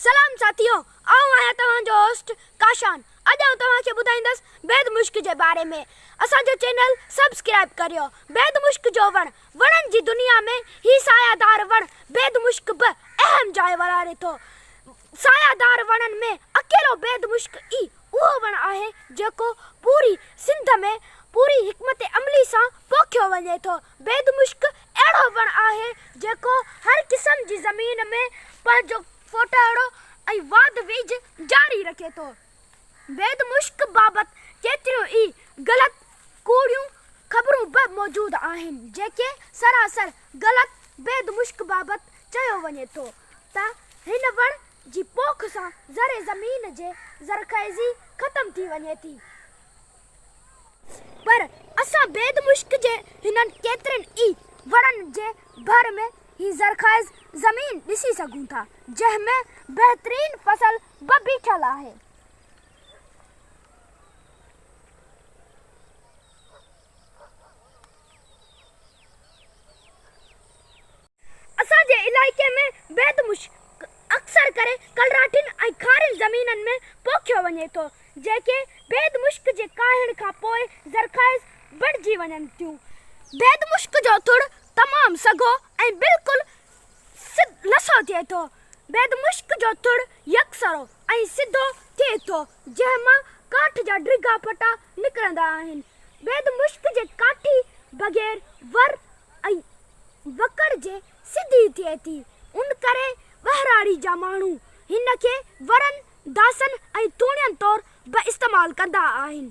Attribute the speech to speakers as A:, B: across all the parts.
A: سلام ساٿيو آئون آهيان توهان جو هوسٽ ڪاشان اڄ آئون توهان کي ٻڌائيندس بيد مشڪ جي باري ۾ اسان جو چينل سبسڪرائب ڪريو بيد مشڪ جو وڻ وڻن جي دنيا ۾ هي سايه دار وڻ بيد مشڪ به اهم جاء ورهاري ٿو سايه دار وڻن ۾ اڪيلو بيد مشڪ ئي اهو وڻ آهي جيڪو پوري سنڌ ۾ پوري حڪمت عملي سان پوکيو وڃي ٿو بيد مشڪ اهڙو وڻ آهي جيڪو هر قسم جي زمين ۾ پنهنجو ڦوٽهڙو ۽ واڌ ويجهه جاري رکي ٿو. بيد مشڪ بابت ڪيتريون ئي غلط ڪوڙيون خبرون به موجود آهن جيڪي سراسر غلط بيد مشڪ بابت چيو وڃي ٿو ته هن وڻ جي پوک سان زرعي زمين جي زرخيزي ختم ٿي وڃي ٿي. پر اسان بيد مشڪ جي هنن ڪيترن ئي وڻن جي ڀر ۾ هي زرخائز زمين ڏسي سگهون ٿا، جنهن ۾ بهترين فصل به بيٺل آهي. اسان جي علائقي ۾ بيد مشڪ اڪثر ڪري ڪلراٺين ۽ کارين زمينن ۾ پوکيو وڃي ٿو، جيڪي بيد مشڪ جي ڪاهڻ کان پوء زرخائز بڻجي وڃن ٿيون. بيد مشڪ جو ٿڙ تمام سگهو ۽ بلڪل سڌ لسو ٿئي ٿو. بيد مشڪ جو ٿڙ يڪسرو ۽ سڌو ٿئي ٿو، جنهن مان ڪاٺ جا ڊگها ڦٽا نڪرندا آهن. بيد مشڪ جي ڪاٺي بغير ور، ۽ وڪڙ جي سڌي ٿئي ٿي، ان ڪري ٻهراڙي جا ماڻهو هن کي ورن، داسن ۽ ٿوڻين طور به استعمال ڪندا آهن.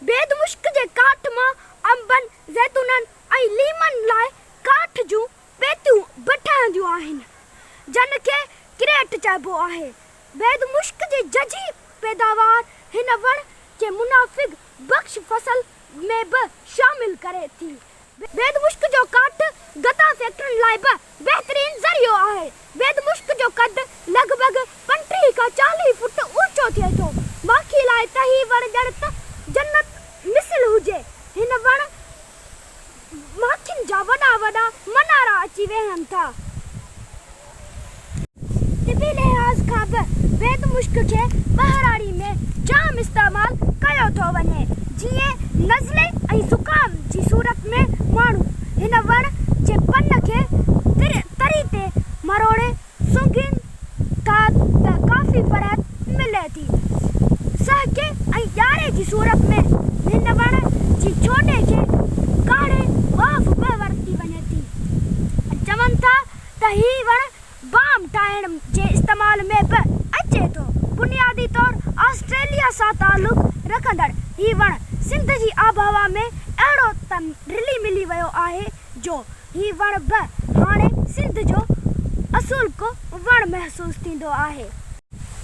A: بيد مشڪ جي ڪاٺ مان انبن، زيتونن ۽ ليمن لاء ڪاٺ جون پيتيون به ٺهنديون آهن، جن کي ڪريٽ چئبو آهي. بيد مشڪ جي ججهي پيداوار هن وڻ جي منافعه بخش فصل ۾ به شامل ڪري ٿي. بيد مشڪ جو ڪاٺ گدا فيڪٽرين لاء به بهترين ذريعو آهي. بيد مشڪ جو قد لڳ ڀڳ پنٽيهه کان چاليهه فوٽ اوچو ٿئي ٿو. ماکي لاء ته هي وڻ ڄڻ ته جنت مثل هجي. هن وڻ. ماکين جا وڏا وڏا منارا اچي ويهن ٿا. طبي لحاظ کان به بيد مشڪ کي ٻهراڙي ۾ جام استعمال ڪيو ٿو وڃي، جيئن نزلي ۽ زڪام جي صورت ۾ ماڻهو هن وڻ جي پن کي تري تي مروڙي سونگين کان ته ڪافي فرحت ملي ٿي. سهڪي ۽ ڄاري جي صورت ۾ هن وڻ جي ڇوٽي کي ڪاڙهي واف به ورتي وڃي ٿي. چون ٿا ته هي وڻ بام ٺاهڻ جي استعمال ۾ به اچي ٿو. بنيادي طور آسٽريليا سان تعلق رکندڙ هي وڻ سنڌ جي آبهوا ۾ اهڙو ته رلي ملي ويو آهي جو هي وڻ به هاڻي سنڌ جو اصولڪو وڻ محسوس ٿيندو آهي.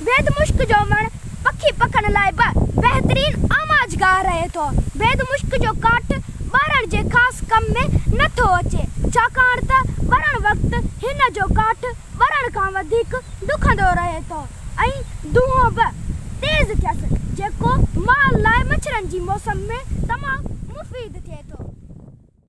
A: بيد مشڪ جو وڻ پکي پکن لاء به بهترين آماج گاهه رهي ٿو. بيد مشڪ جو ڪاٺ ٻارڻ جي خاص ڪم ۾ نه ٿو اچي، ڇاڪاڻ ته ٻرڻ وقت هن جو ڪاٺ ٻرڻ کان وڌيڪ ڏکندو رهي ٿو ۽ دونهون به تيز ٿيس، جيڪو مال لاء مڇرن جي موسم ۾ تمام مفيد ٿئي ٿو.